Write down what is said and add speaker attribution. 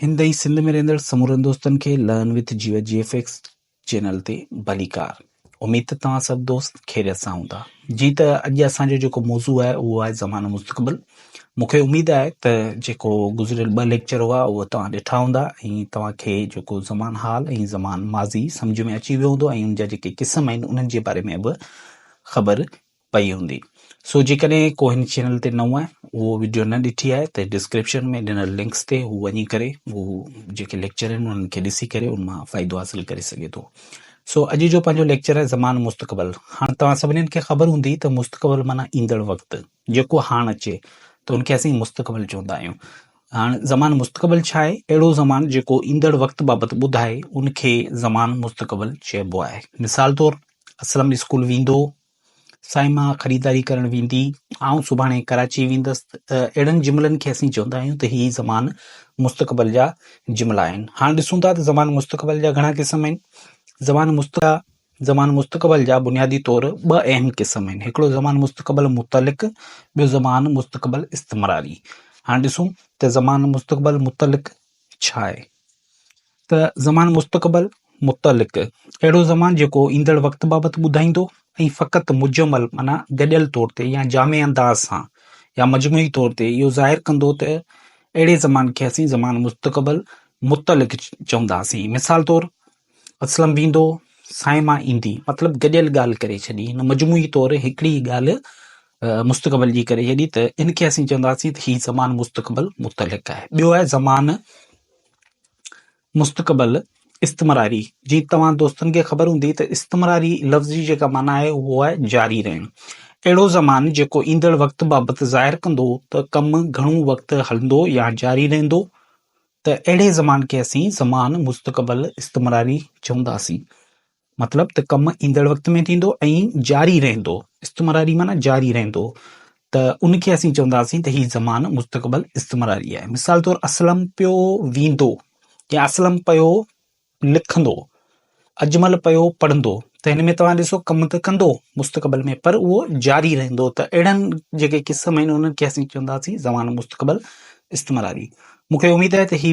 Speaker 1: هندئي سنڌ ۾ رهندڙ سمورن دوستن کي learn with Geo G F X channel تي ڀليڪار اميد ته توهان سڀ دوست خيريت سان هوندا جي ته اڄ اسان جو جيڪو موضوع آهي اهو آهي زمانو مستقبل مونکي اميد آهي ته جيڪو گذريل ٻه ليڪچر هئا اهو توهان ڏٺا هوندا ۽ توهان کي جيڪو زمان حال ۽ زمان ماضي سمجھ ۾ اچي ويو هوندو ۽ ان جا جيڪي قسم آهن انهن جي باري ۾ به خبر پئي هوندي سو جيڪڏهن ڪو هن چينل تي نئون آهي اهو وڊيو نه ڏٺي آهي ته ڊسڪرپشن ۾ ڏنل لنڪس تي هو وڃي ڪري هو جيڪي ليڪچر آهن انهن کي ڏسي ڪري ان مان فائدو حاصل ڪري سگهي ٿو سو اڄ جو پنهنجو ليڪچر آهي زمان مستقبل هاڻ توهان سڀني کي خبر هوندي ته مستقبل معنيٰ ايندڙ وقت جيڪو هاڻ اچي ته ان کي اسين مستقبل چوندا آهيون هاڻ زمان مستقبل ڇا آهي اهڙو زمان جيڪو ايندڙ وقت بابت ٻڌائي ان کي زمان مستقبل چئبو آهي مثال طور اسلم اسڪول ويندو سائين مان خريداري ڪرڻ ويندي، آئون سڀاڻي ڪراچي ويندس ته اهڙن جملن کي اسين چوندا آهيون ته هي زمان مستقبل جا جملا آهن. هاڻ ڏسون ٿا ته زمان مستقبل جا گهڻا قسم آهن. زمان مستقبل جا زمان مستقبل جا بنيادي طور ٻه اهم قسم آهن. هڪڙو زمان مستقبل متعلق ٻيو زمان مستقبل استمراري. هاڻ ڏسون ته زمان مستقبل متعلق ڇا آهي. ته زمان مستقبل، متعلق، اهڙو زمان جيڪو ايندڙ وقت بابت ٻڌائيندو ۽ فقط مجمل معنيٰ گڏيل طور تي يا جامع انداز سان يا مجموعي طور تي اهو ظاهر ڪندو ته اهڙي زمان کي اسين زمان مستقبل، متعلق، چونداسين. مثال طور، اسلم ويندو، صائمه ايندي. مطلب گڏيل ڳالهه ڪري ڇڏي، هن مجموعي طور هڪڙي ئي ڳالهه مستقبل جي ڪري ڇڏي ته ان کي اسين چونداسين ته هي زمان مستقبل، متعلق، آهي. ٻيو آهي زمان. مستقبل، استمراري، جي توهان دوستن کي خبر هوندي ته استمراري لفظ جي جيڪا معنيٰ آهي اهو آهي جاري رهڻ. اهڙو زمان جيڪو ايندڙ وقت بابت ظاهر ڪندو ته ڪم گهڻو وقت هلندو يا جاري رهندو ته اهڙي زمان کي اسين زمان مستقبل، استمراري، چونداسين. مطلب ته ڪم ايندڙ وقت ۾ ٿيندو ۽ جاري رهندو، استمراري معنيٰ جاري رهندو، ته ان کي اسين چونداسين ته هي زمان مستقبل استمراري آهي. مثال طور اسلم پيو ويندو يا اسلم پيو لکندو، اجمل پيو پڙهندو ته هن ۾ توهان ڏسو ڪم ته ڪندو مستقبل ۾ پر اهو جاري رهندو ته اهڙن جيڪي قسم آهن انهن کي اسين چونداسين زمان مستقبل استمراري. مون کي اميد آهي ته هي.